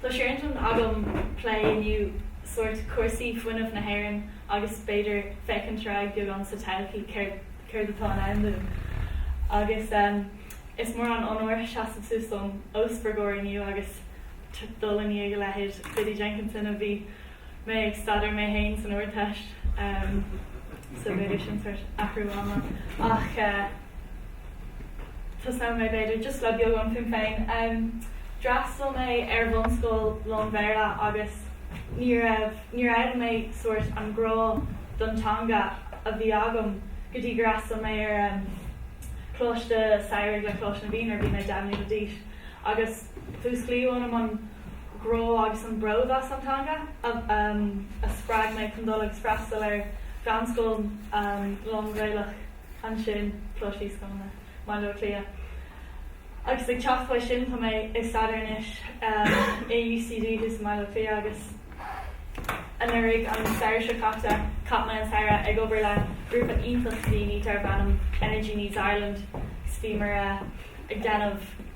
Tá sé ar intinn agam plé inniu sórt cúrsaí fuinnimh na hÉireann agus b'fhéidir féachaint ar aghaidh beagán sa todhchaí céard céard atá i ndán dúinn. Agus is mór an onóir seasamh suas dom os bhur gcomhair inniu agus dul i ndiaidh a leithéid Biddy Jenkinson a bhí mé ag staidéar mé féin san Ardteist so b'fhéidir sin sórt athrú ama ach tosnóidh mé b'fhéidir just le beagán fúm féin. D'fhreastail mé ar bhunscoil lán-Bhéarla agus ní raibh, níor fhoghlaim mé sórt an grá don teanga a bhí agam go dtí gur fhreastail mé ar choláiste samhraidh le Coláiste na bhFiann nuair a bhí mé deich mbliana d'aois agus, Músclaíodh ionam an grá agus an bród as an teanga a spreag mé chun dul agus freastal ar mheánscoil lán-Ghaelach ansin, Coláiste Íosagáin i mBaile Átha Cliath. Agus ag teacht uaidh sin, tá mé ag staidéar anois i UCD thuas i mBaile Átha Cliath agus anuraidh, an samhradh seo caite, chaith mé an samhradh ag obair le grúpa iontach daoine darb ainm Energy Needs Ireland. Is bhí mé ag déanamh.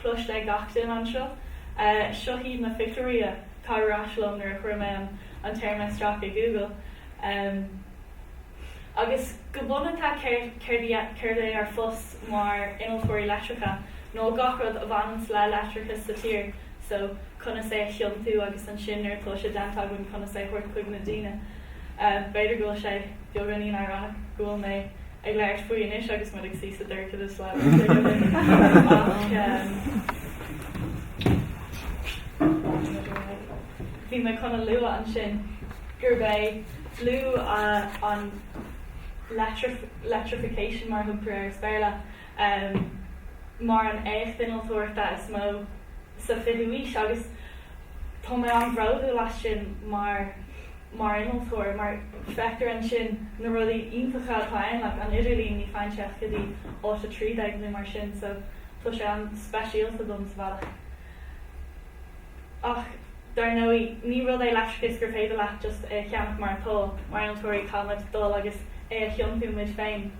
Cloiste ag gach duine anseo. Seo hiad na pictiúirí atá ar ais liom nuair a chuir mé an an téarma isteach i Google. Agus go bunata céard céard céard é ár phost mar innealtóirí leictreacha nó gach rud a bhaineanns le leictreachas sa tír so, conas é a thiontú agus ansin nuair atá sé déanta againn conas é a thabhairt chuig na daoine. B'fhéidir go bhfuil sé beagáinín íorónach go bhfuil mé ag labhairt faoi anois agus muid ag suí sa dorchadas. Bhí mé chun a lua ansin gurb é luadh an electrification mar a thugtar air as Béarla. um mar an éacht innealtóireachta is mó sa 20ú aois agus tá mé an-bhródúil as sin mar mar innealtóir mar feictear ansin na rudaí iontacha atá ann like an idirlíon ní faigheann sé ach go dtí áit 13 nó mar sin so tá sé an-speisialta dom sa bhealach ach dar ndóigh ní rud é leictreachas gur féidir leat just é a cheannach mar atá mar innealtóirí caithfimid dul agus é a thiontú muid féin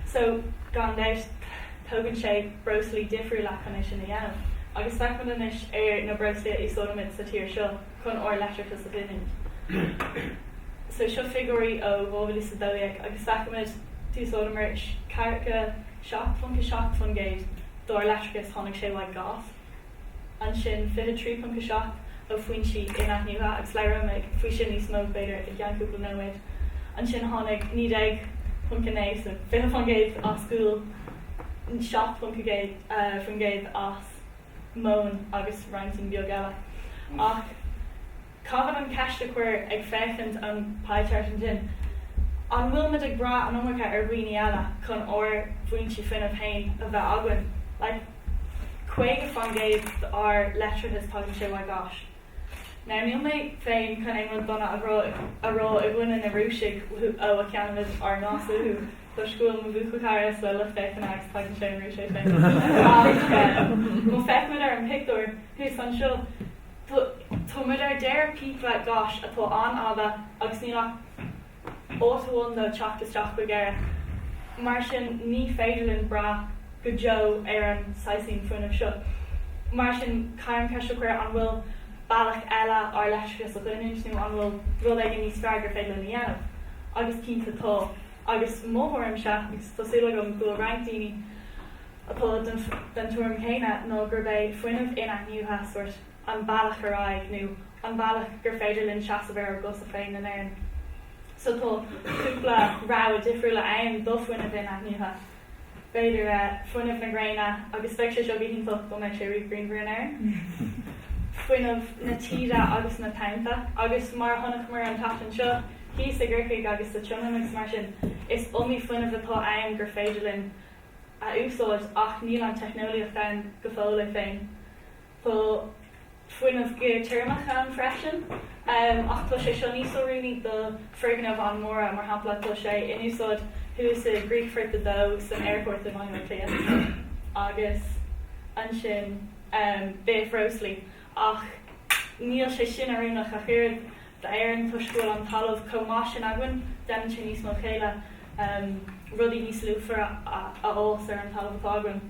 So, gan dabht, tógann sé breoslaí difriúla chun é sin a dhéanamh. Agus féachfaimid anois ar na breoslaí a úsáidimid sa tír seo chun ár leictreachas a ghiniúint. So, seo figiúirí ó 2012 agus féachfaimid, d'úsáideamar 47.7% dár leictreachas, tháinig sé uaidh gás. ansin 23.7 ó foinsí in-athnuaithe agus labhróimid faoi sin níos mó, b'fhéidir, i gceann cúpla nóiméad. Ansin tháinig 19.9 so 20% as gual, 7% as móin agus roinnt beag eile. Ach. Caithfear an cheist a chuir ag féachaint an pie chart ansin, an bhfuilimid ag brath an iomarca ar dhaoine eile chun ár bhfoinse fuinnimh fhéin a bheith againn? Like, caoga fán gcéad d'ár leictreachas tagann sé uaidh gás. Now, níl mé féin chun aon rud dona a rá i gcoinne na Rúisigh ó a cheannaímid ár ngás uathu, toisc go bhfuil mo bhuachaillchara sa lucht féachana agus tagann sé ón Rúis é féin, ach má fhéachaimid ar an pictiúr thuas anseo, Tá, tá muid ar deireadh píopa gáis atá an-fhada agus níl ach áit amháin dó teacht isteach go hÉire, mar sin ní féidir linn brath go deo ar an saghas sin fuinnimh seo. Mar sin caithfear an cheist a chur, an bhfuil bealach eile ár leictreachas a ghiniúint nó an bhfuil rud éigin níos fearr gur féidir linn a dhéanamh? Agus cinnte tá. Agus mothaímse, agus tá súil agam go bhfuil roinnt daoine, atá den tuairim chéanna ná gurb é fuinneamh in-athnuaithe sórt an bealach ar aghaidh nó an bealach gur féidir linn seasamh ar ár gcosa féin in Éirinn. So tá cúpla rogha difriúil ann do fuinneamh in-athnuaithe. B'fhéidir fuinneamh na gréine agus bheadh sé seo go hiontach dá mbeadh sé riamh grianmhar in Éirinn. Fuinneamh na taoide agus na tonnta agus mar a chonaiceamar an tseachtain seo thíos i gCorcaigh agus sa tSionainn agus mar sin, is iomaí fuinneamh atá ann gur féidir linn a úsáid ach níl an teicneolaíocht ann go fóill é féin. Tá fuinneamh geoiteirmeach ann freisin ach tá sé seo níos oiriúnaí do foirgnimh an-mhóra, mar shampla tá sé in úsáid thuas i gcríochfort 2 san aerfort i mBaile Átha Cliath agus ansin bithbhreosla ach níl sé sin oiriúnach ach oiread. d'Éirinn toisc go bhfuil an talamh chomh maith sin againn, déanann sé níos mó céille rudaí níos luachmhaire a fhás ar an talamh atá againn.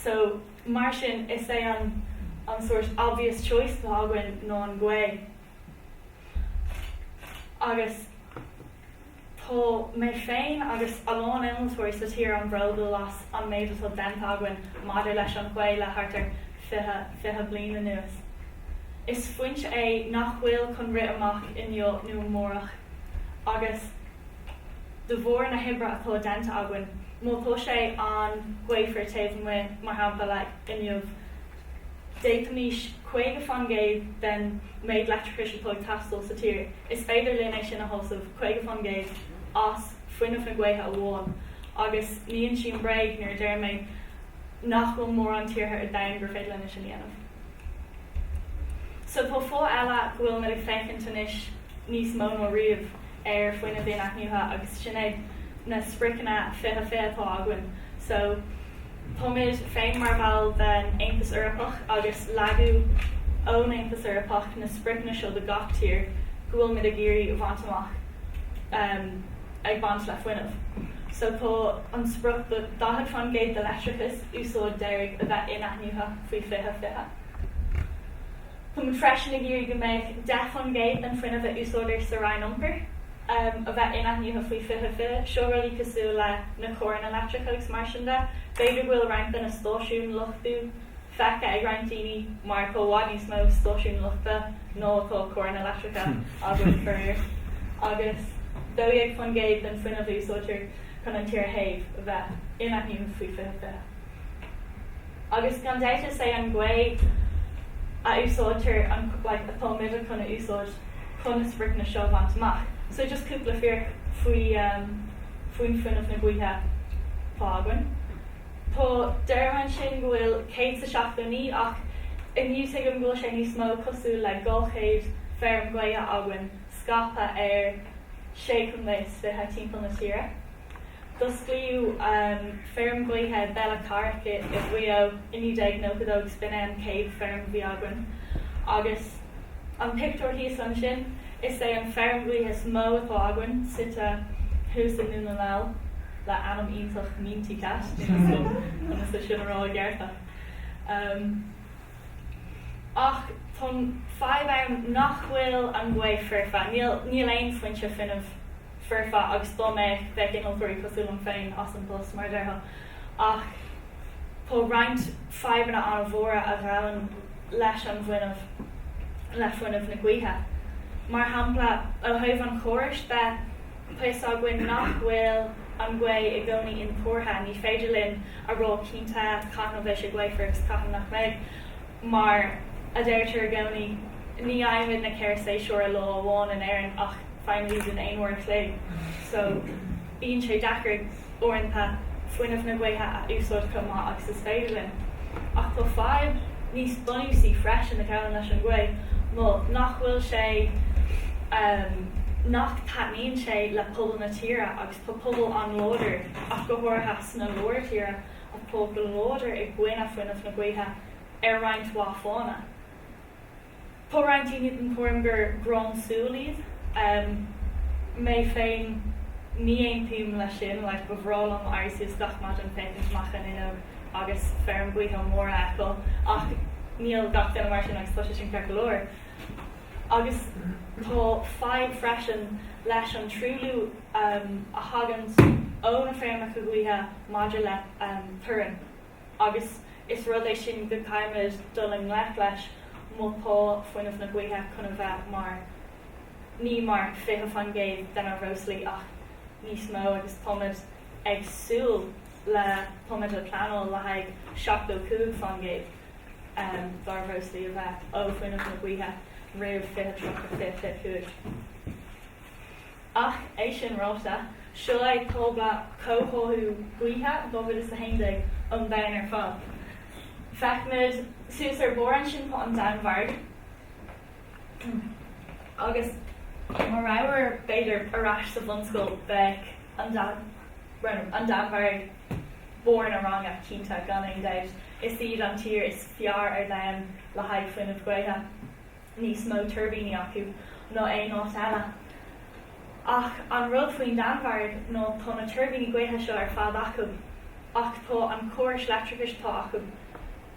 So, mar sin, is é an an sórt obvious choice atá againn ná an ghaoth. Agus. Tá mé féin agus a lán innealtóirí sa tír an-bhródúil as an méid atá déanta againn maidir leis an ghaoth le thart ar fiche fiche bliain anuas. Is foinse é nach bhfuil chun rith amach inniu nó amárach agus de bharr na hoibre atá déanta againn, má tá sé an-ghaofar taobh amuigh, mar shampla, inniu, d'fhéadfaimis 50 fán gcéad den méid leictreachais atá ag teastáil sa tír, is féidir linn é sin a shásamh, 50 fán gcéad, as fuinneamh na gaoithe amháin. Agus ní insím bréag nuair a deir mé nach bhfuil mórán tíortha ar domhan gur féidir leo é sin a dhéanamh. So tá fáth eile go bhfuil muid ag féachaint anois. níos mó ná riamh, ar fuinneamh in-athnuaithe agus sin é na spriocanna 20 20 atá againn. So, táimid féin mar bhall den Aontas Eorpach agus leag an Aontas Eorpach na spriocanna seo do gach tír go bhfuil muid ag iarraidh a bhaint amach ehm ag baint le fuinneamh. So, tá an sprioc 40 fán gcéad de leictreachas úsáid deiridh a bheith in-athnuaithe faoi 20 20. Tá muid freisin ag iarraidh go mbeidh 10 faoin gcéad den fuinneamh a úsáidtear sa Roinn Iompair a bheith inathnuithe faoi 2020. Seo rudaí cosúil le na carranna leictreacha agus mar sin de. B'fhéidir go bhfuil roinnt de na stáisiúin luchtú feicthe ag roinnt daoine mar tá i bhfad níos mó stáisiúin luchtú ná atá carranna leictreacha againn, faraor. Agus 12 faoin gcéad den fuinneamh a úsáidtear chun an tír a théamh a bheith inathnuithe faoi 2020. Agus gan dabht is é an gaoth a úsáidtear atá muidne chun a úsáid chun na spriocanna seo a bhaint amach. So just cúpla fíric faoi faoin fuinneamh na gaoithe atá againn. Tá deir ansin go bhfuil 179 ach inniu tuigim go bhfuil sé níos mó cosúil le 200 feirm ghaoithe againn scaipthe ar 6 chontae 20 timpeall na tíre. D'osclaíodh feirm gaoithe Bellacorick i Mhaigh Eo i 1992 is b'in é an chéad feirm gaoithe againn agus an pictiúr thíos ansin is é an feirm ghaoithe is mó atá againn suite thuas i nDún na nGall le ainm iontach Meentycat, conas é sin a rá i gceart? Ach tá an fadhb ann nach bhfuil an gaoth foirfe, níl aon foinse fuinnimh foirfe agus dá mbeadh, bheadh innealtóirí cosúil liom féin as an bpost, mar a déarfá. Ach tá roinnt fadhbanna an-mhóra a ghabhann leis an bhfuinneamh, le fuinneamh na gaoithe. Mar shampla, ó thaobh an chórais de, tá a fhios againn nach bhfuil an ghaoth i gcónaí intuartha, ní féidir linn a rá cinnte cathain a bheidh sé gaofar agus cathain nach mbeidh. Mar a deirtear i gcónaí, ní fhaighimid na ceithre shéasúr i lá amháin in Éirinn ach faighimid iad in aon uair a chloig so bíonn sé deacair uaireanta fuinneamh na gaoithe a úsáid chomh maith agus is féidir linn. Ach tá fadhb níos bunúsaí freisin a ghabhann leis an ghaoth, nó nach bhfuil sé, nach dtaitníonn sé le pobal na tíre agus tá pobal an-láidir ach go háirithe sna lár tíre, an pobal láidir i gcoinne fuinneamh na gaoithe ar roinnt mhaith fáthanna. Tá roinnt daoine den tuairim gur gráin súl iad. Mé féin, ní aontaím leis sin, like ba bhreá liom éirí suas gach maidin, féachaint amach an fhuinneog agus feirm gaoithe mór a fheiceáil, ach níl gach duine mar sin agus tá sé sin ceart go leor. Agus tá fadhb freisin leis an truailliú a thagann ó na feirmeacha gaoithe. maidir le torann agus is rud é sin go gcaithfimid dul i ngleic leis má tá fuinneamh na gaoithe chun a bheith mar, ní mar 20% de na breoslaí ach níos mó agus táimid ag súil le, táimid ag pleanáil le haghaidh 75% dár mbreoslaí a bheith ó fuinneamh na gaoithe roimh 2030, 2025. Ach é sin ráite, seo é tábla comhtháthú gaoithe 2011 an domhain ar fad. Feicfimid suas ar bharr ansin, an Danmhairg agus má rabhamar b'fhéidir ar ais sa bhunscoil beidh an Danmhairg, an Danmhairg barr an ranga cinnte gan aon dabht. Is iad an tír is fearr ar domhan le haghaidh fuinneamh gaoithe. níos mó tuirbíní acu ná aon áit eile. Ach an rud faoin Danmhairg ná tá na tuirbíní gaoithe seo ar fad acu, ach tá an córas leictreachais atá acu,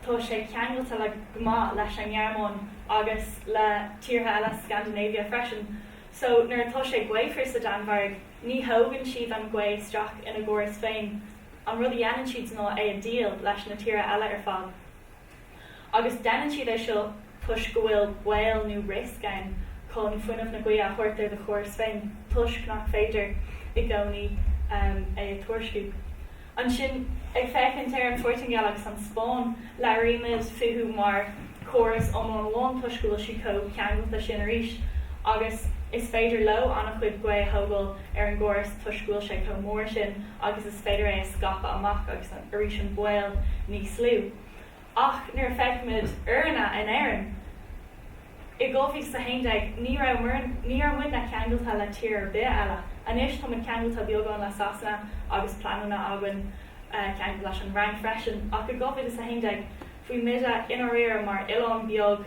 tá sé ceangailte le go maith leis an nGearmáin agus le tíortha eile Scandinavia freisin. So nuair atá sé gaofar sa Danmhairg, ní thógann siad an ghaoth isteach ina gcóras féin, an rud a dhéanann siad ná é a dhíol leis na tíortha eile ar fad. Agus déanann siad é seo toisc go bhfuil baol nó riosca ann chun fuinneamh na gaoithe a thabhairt ar do chóras féin toisc nach féidir i gcónaí é a thuairisciú. Ansin, ag féachaint ar an Phortaingéil agus an Spáinn, labhraímid fúthu mar chóras iomlán amháin toisc go bhfuil siad chomh ceangailte sin arís. Agus is féidir leo an-chuid gaoth a thógáil ar an gcóras toisc go bhfuil sé chomh mór sin agus is féidir é a scaipeadh amach agus na. arís an baol níos lú. Ach nuair a feicimid orainne in Éirinn i 2011, ní raibh muid, ní raibh muidne ceangailte le tír ar bith eile. Anois tá muid ceangailte beagán le Sasana agus pleananna againn ceangal leis an bhFrainc freisin. Ach i 2011, bhí muidne i ndáiríre mar oileán beag.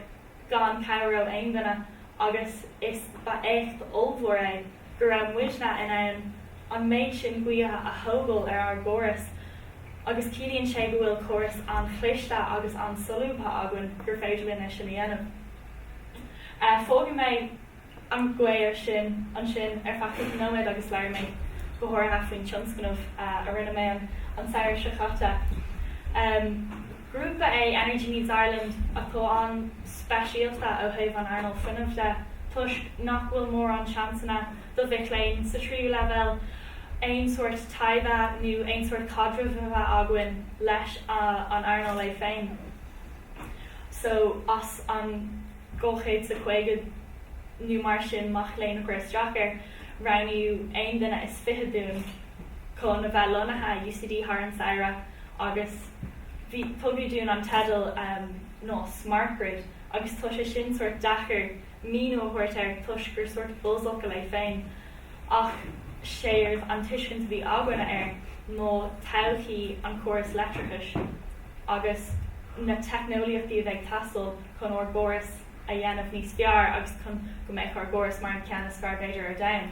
gan cabhair ó aon duine, agus is ba éacht ollmhór é go raibh muidne in ann an méid sin gaoithe a thógáil ar ár gcóras, agus ciallaíonn sé go bhfuil córas an-chliste agus an-solúbtha againn gur féidir linn é sin a dhéanamh. Fágfaidh mé. An gcomhair sin ansin ar feadh cúpla nóiméad agus labhair mé go háirithe faoin tionscnamh a rinne mé an samhradh seo caite. Grúpa é Energy Needs Ireland atá an-speisialta ó thaobh an earnáil fuinnimh de toisc nach bhfuil mórán seansanna do mhic léinn sa tríú leibhéal aon sórt taighde nó aon sórt caidrimh a bheith againn leis an earnáil é féin. So, as an. 250 nó mar sin mac léinn a chuir isteach air, roghnaíodh aon duine is fiche dúinn chun a bheith lonnaithe i UCD thar an samhradh agus bhí, tugadh dúinn an teideal ná smart grid agus tá sé sin sórt deacair míniú a thabhairt air toisc gur sórt buzzfhocal é féin ach séard an tuiscint a bhí againne air ná todhchaí an chórais leictreachais agus na teicneolaíochtaí a bheidh ag teastáil chun ár gcóras a dhéanamh níos fearr agus chun go mbeidh ár gcóras mar an ceann is fearr b'fhéidir ar domhan.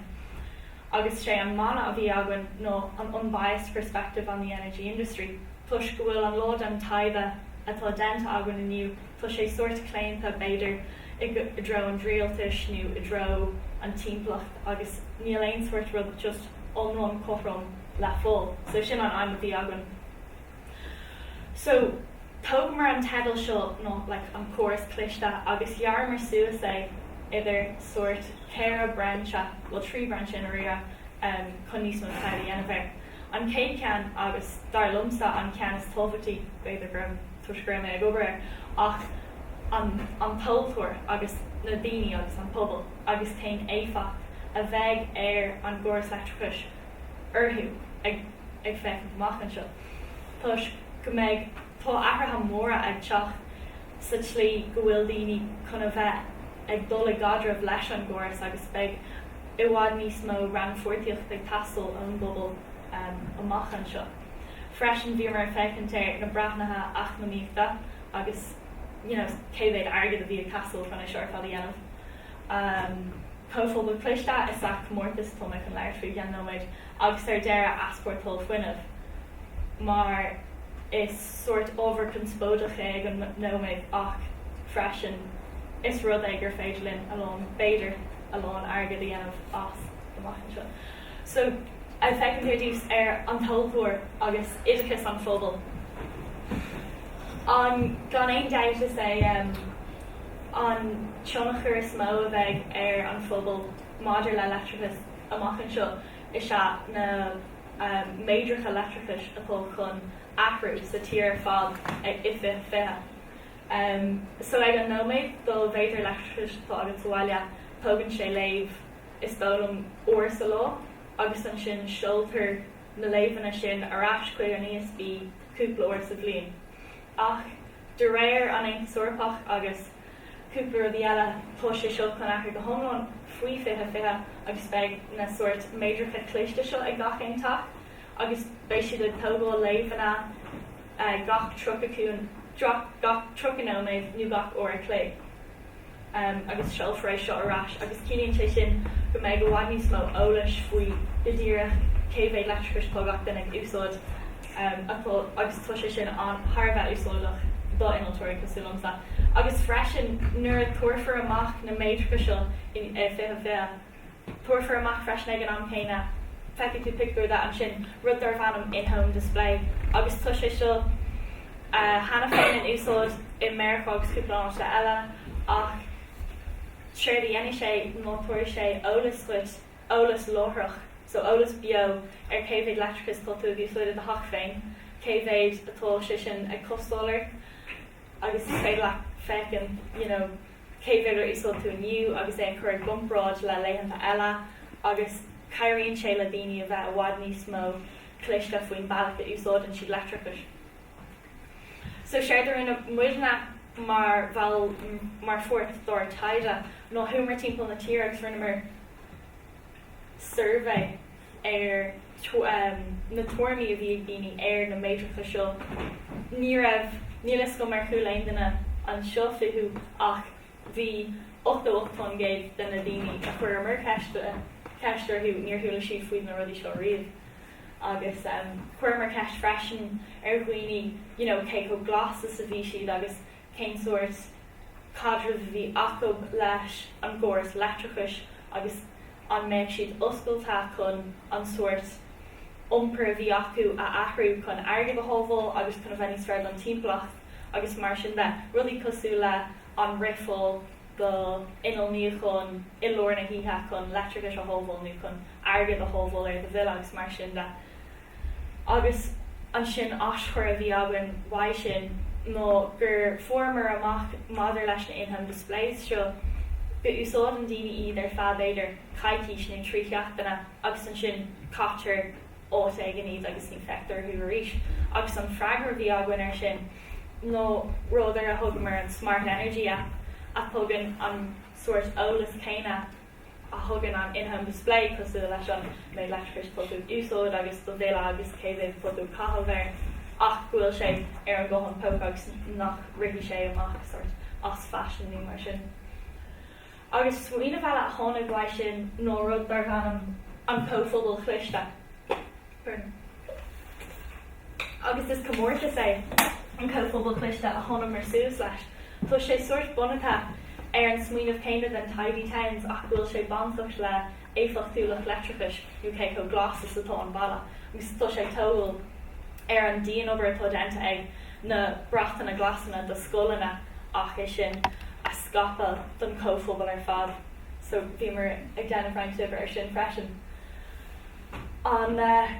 Agus sé an mana a bhí againn ná an unbiased perspective on the energy industry. Toisc go bhfuil a lán den taighde atá déanta againn inniu, tá sé sórt claonta b'fhéidir i dtreo an rialtais nó i dtreo an timpeallacht agus níl aon sórt rud just iomlán cothrom le fáil. So sin an aidhm a bhí againn. So, thógamar an teideal seo, nó like an córas cliste, agus ghearramar suas é idir sórt ceithre brainse, bhuel trí bhrainse i ndáiríre, em, chun níos mó taighde a dhéanamh air. An chéad cheann agus dar liomsa an ceann is tábhachtaí, b'fhéidir go raibh toisc go raibh mé ag obair air, ach an, an tomhaltóir agus na daoine agus an pobal agus cén éifeacht a bheidh ar an gcóras leictreachais orthu ag. ag féachaint amach anseo toisc go mbeidh, tá athruithe móra ag teacht sa tslí go bhfuil daoine chun a bheith ag dul i gcaidreamh leis an gcóras agus beidh i bhfad níos mó rannpháirtíocht ag teastáil ón bpobal amach anseo. Freisin bhíomar ag féachaint ar na breathnuithe eacnamaíochta agus you know cé mhéad airgead a bhí ag teastáil chun é seo ar fad a dhéanamh. Comhphobal Cliste is ea comórtas tá mé chun labhairt faoi i gceann nóiméid. agus ar deireadh easpórtáil fuinnimh, mar is sórt ábhar conspóideach é ag an nóiméad ach freisin is rud é gur féidir linn a lán, b'fhéidir, a lán airgid a dhéanamh as amach anseo. So, ag féachaint ar dtús ar an tomhaltóir agus oideachas an phobail. An, gan aon dabht is é an tionchar is mó a bheidh ar an phobal maidir le leictreachas, amach anseo is ea na méadracha leictreachais atá chun athrú sa tír ar fad i 2020. So ag an nóiméad do mhéadar leictreachais atá agat sa bhaile, tógann sé léamh is dóigh liom uair sa lá agus ansin seoltar na léamhanna sin ar ais chuig an ESB cúpla uair sa bhliain. Ach de réir an Aontas Eorpach agus. Cúpla rudaí eile, tá sé seo chun athrú go hiomlán faoi 2020 agus beidh na sóirt méadracha cliste seo ag gach aon teach agus beidh siad ag tógáil léamhanna gach 30 nóiméad nó gach uair an chloig agus seolfar é seo ar ais agus ciallaíonn sé sin go mbeidh i bhfad níos mó eolais faoi go díreach cé mhéad leictreachais atá gach duine ag úsáid. agus tá sé sin thar a bheith úsáideach do innealtóirí cosúil liomsa. Agus freisin nuair a tabharfar amach na méadracha seo in 2020, tabharfar amach freisin ag an am céanna, feicfidh tú pictiúir de ansin, rud darb ainm 'in-home display' agus tá sé seo cheana féin in úsáid i Meiriceá agus cúpla áiteanna eile ach séard a dhéanfaidh sé ná tabharfaidh sé eolas dhuit eolas láithreach, so eolas beo ar cé mhéad leictreachais atá tú ag úsáid i do theach féin, cé mhéad atá sé sin ag costáil ort agus is féidir leat féachaint you know cé mhéad ar úsáid tú inniu agus é a chur i gcomparáid le laethanta eile agus cabhraíonn sé le daoine a bheith i bhfad níos mó cliste faoin bealach a úsáideann siad leictreachais. So séard a rinne muidne mar bhall mar pháirt dár taighde ná chuamar timpeall na tíre agus rinneamar suirbhé ar na tuairimí a bhí ag daoine ar na méadracha seo. Ní raibh, níl fhios agam ar chuala aon duine anseo fúthu ach bhí 88% de na daoine a chuireamar ceist orthu, níor chuala siad faoi na rudaí seo riamh. agus chuireamar ceist freisin ar dhaoine you know cé chomh glas is a bhí siad agus cén sórt caidreamh a bhí acu leis an gcóras leictreachais agus an mbeadh siad oscailte chun an sórt iompair a bhí acu a athrú chun airgead a shábháil agus chun a bheith níos fearr don timpeallacht agus mar sin de, rudaí cosúil le an rithfeá do inneall níocháin i lár na hoíche chun leictreachais a shábháil nó chun airgead a shábháil ar do bhille agus mar sin de. Agus ansin aschur a bhí againn uaidh sin ná gur fuaireamar amach maidir leis na in-home displays seo go úsáideann daoine iad ar feadh b'fhéidir coicís nó trí sheachtaine agus ansin caitear áit éigin iad agus ní feictear orthu arís. Agus an freagra a bhí againn air sin nó rud ar a thugamar an Smart Energy App a thugann an sórt eolas céanna a thugann an in-home display cosúil leis an méid leictreachais atá tú ag úsáid agus do bhille agus cé mhéad atá tú ag caitheamh air ach go bhfuil sé ar an ghuthán póca agus nach rithfidh sé amach sórt as fashion nó mar sin. Agus smaoineamh eile a tháinig uaidh sin ná rud darbh ainm an Comhphobal Cliste. Agus is comórtas é an Comhphobal Cliste a thánamar suas leis. Tá sé sórt bunaithe ar an smaoineamh céanna den Tidy Towns ach go bhfuil sé bainteach le éifeachtúlacht leictreachais nó cé chomh glas is atá an baile agus tá sé ag tógáil ar an dian-obair atá déanta ag na bratanna glasanna do scoileanna ach é sin a scaipeadh don chomhphobal ar fad so bhíomar ag déanamh roinnt oibre ar sin freisin. An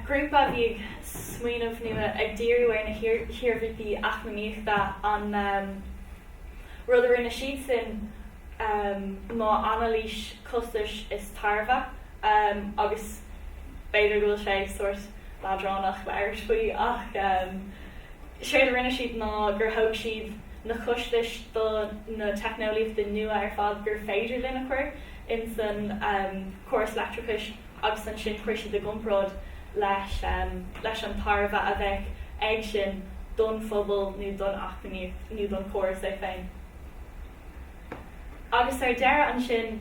grúpa a bhí ag smaoineamh nó ag díriú ar na hiarmhairtí eacnamaíochta an rud a rinne siadsan ná anailís costais is tairbhe agus b'fhéidir go bhfuil sé sórt leadránach labhairt faoi ach Séard a rinne siad ná gur thóg siad na costais do na teicneolaíochtaí nua ar fad gur féidir linn a chur ins an córas leictreachais agus ansin chuir siad i gcomparáid leis an tairbhe a bheadh ag sin don phobal nó don eacnamaíocht nó don chóras é féin. Agus ar deireadh ansin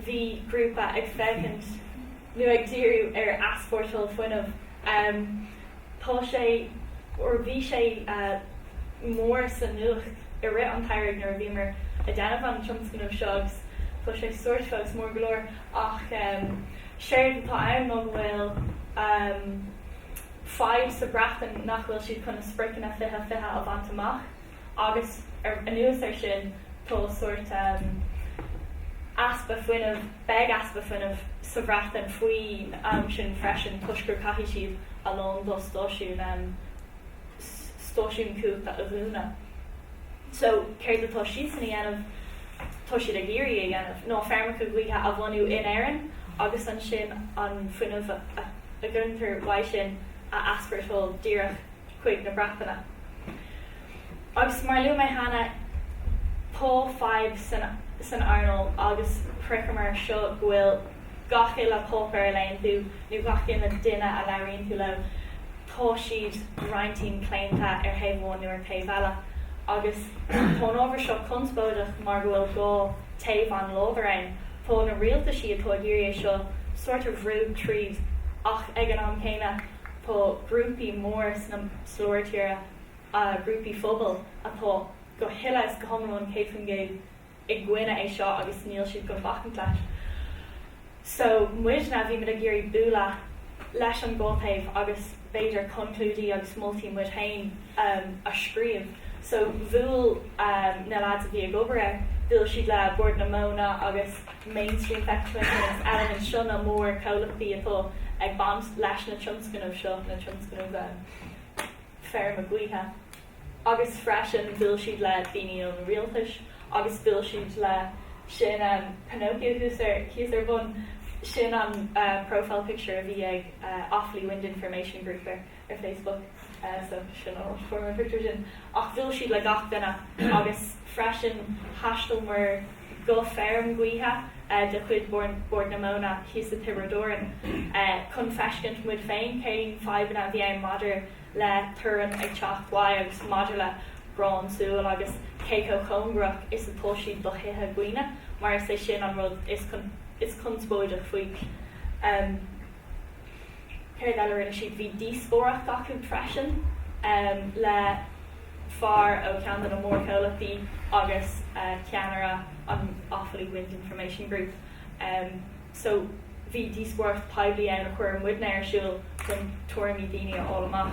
bhí grúpa ag féachaint nó ag díriú ar easpórtáil fuinnimh. Tá sé, ar, bhí sé mór sa nuacht i rith an tsamhraidh nuair a bhíomar ag déanamh an tionscnaimh seo agus tá sé sórt fós mór go leor ach séard atá ann ná go bhfuil fadhb sa Bhreatain nach bhfuil siad chun a spriocanna 2020 a bhaint amach. Agus ar anuas air sin, tá sórt easpa fuinnimh, beidh easpa fuinnimh sa Bhreatain faoin am sin freisin toisc gur caithfidh siad a lán dá stáisiún, stáisiún cumhachta a dhúnadh. So, séard atá siadsan a dhéanamh, tá siad ag iarraidh a dhéanamh ná feirmeacha gaoithe a bhunú in Éirinn agus ansin an fuinneamh a ghintear uaidh sin a easpórtáil díreach. chuig na Breataine. Agus mar a luaigh mé cheana, tá fadhb san earnáil agus topaic mar seo go bhfuil gach uile páipéar a léann tú, nó gach uile duine a labhraíonn tú leo, tá siad roinntín claonta ar thaobh amháin nó ar taobh eile. Agus tá an ábhar seo conspóideach mar go bhfuil dhá taobh an-láidir ann. Tá na rialtaisí atá ag iarraidh é seo sórt a bhrú tríd ach ag an am céanna, Tá grúpaí móra sa Lár Tíre, grúpaí phobail atá go huile is go hiomlán, 100%, i gcoinne é seo agus níl siad gan bacaint leis. So, muidne, bhí muid ag iarraidh bualadh leis an dá taobh agus b'fhéidir conclúidí agus moltaí muid féin a scríobh. So, bhuail na leaids a bhí ag obair air, bhuail siad le Bord na Móna agus Mainstream agus Element. Seo na mórchomhlachtaí atá ag baint leis na tionscnamh seo, na tionscnamh um, feirme gaoithe. Agus freisin bhuail siad le daoine ón rialtas agus bhuail siad le sin um, Pinocchio thíos ar, thíos ar bun sin an uh, profile picture a bhí ag uh, Offaly Wind Information Group ar ar Facebook so sin an áit a fuair mé an pictiúr sin. Ach bhuail siad le gach duine agus freisin thaistealaíomar go feirm ghaoithe de chuid Bord na Móna thíos sa Tiobraid Árann chun feiscint muid féin cén fadhbanna a bhí ann maidir le torann ag teacht uaidh agus maidir le gráin súl agus cé chomh cóngarach is atá siad do thithe dhaoine mar is é sin an rud is conspóideach faoi. Céard eile a rinne siad? Bhí díospóireacht acu freisin le fear ó cheann de na mórchomhlachtaí agus ceannaire an Offaly Wind Information Group. So bhí díospóireacht poiblí ann a chur muidne ar siúl chun tuairimí daoine a fháil amach.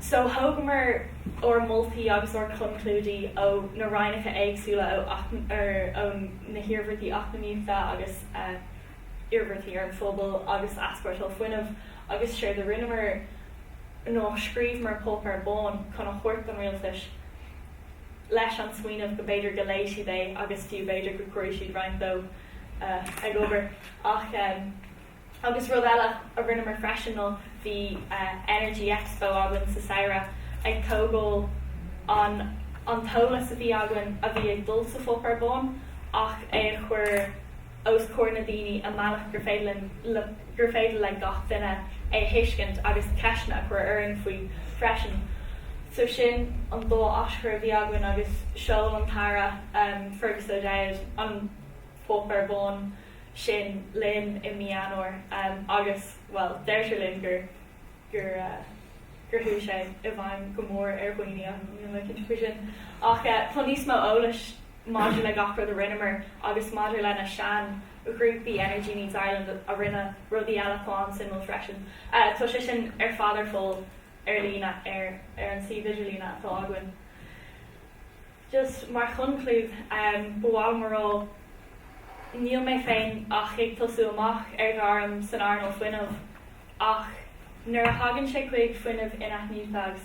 So thógamar ár moltaí agus ár gconclúidí ó na rannacha éagsúla ó na hiarmhairtí eacnamaíochta agus. iarmhairtí ar an phobal agus easpórtáil fuinnimh, agus séard a rinneamar ná scríobhamar páipéar bán chun a thabhairt don rialtas leis an smaoineamh go b'fhéidir go léigh siad é agus fiú b'fhéidir go gcuirfeadh siad roinnt de ag obair. Ach, agus rud eile a rinneamar freisin ná bhí Energy Expo againn sa samhradh ag tógáil an an t-eolas a bhí againn a bhí ag dul sa pháipéar bán ach é a chur os comhair na ndaoine i mbealach gur féidir le gur féidir le gach duine é a thuiscint agus ceisteanna a chur orainn faoi freisin. So sin an dá aschur a bhí againn agus sheol an tAire Fergus O'Dowd an páipéar bán sin linn i mí Eanáir agus, bhuel, deirtear linn gur gur gur chuaigh sé i bhfeidhm go mór ar dhaoine ach níl mé cinnte faoi sin. Ach tá níos mó eolais maidir le gach rud a rinneamar agus maidir le na seanghrúpaí Energy Needs Ireland a rinne rudaí eile atá an-suimiúil freisin. Tá sé sin ar fad ar fáil ar líne ar ar an suíomh idirlíne atá againn. Just mar chonclúid ba mhaith liom a rá níl mé féin ach ag tosú amach ar ghairm san earnáil fuinnimh ach nuair a thagann sé chuig fuinneamh in-athnuaite agus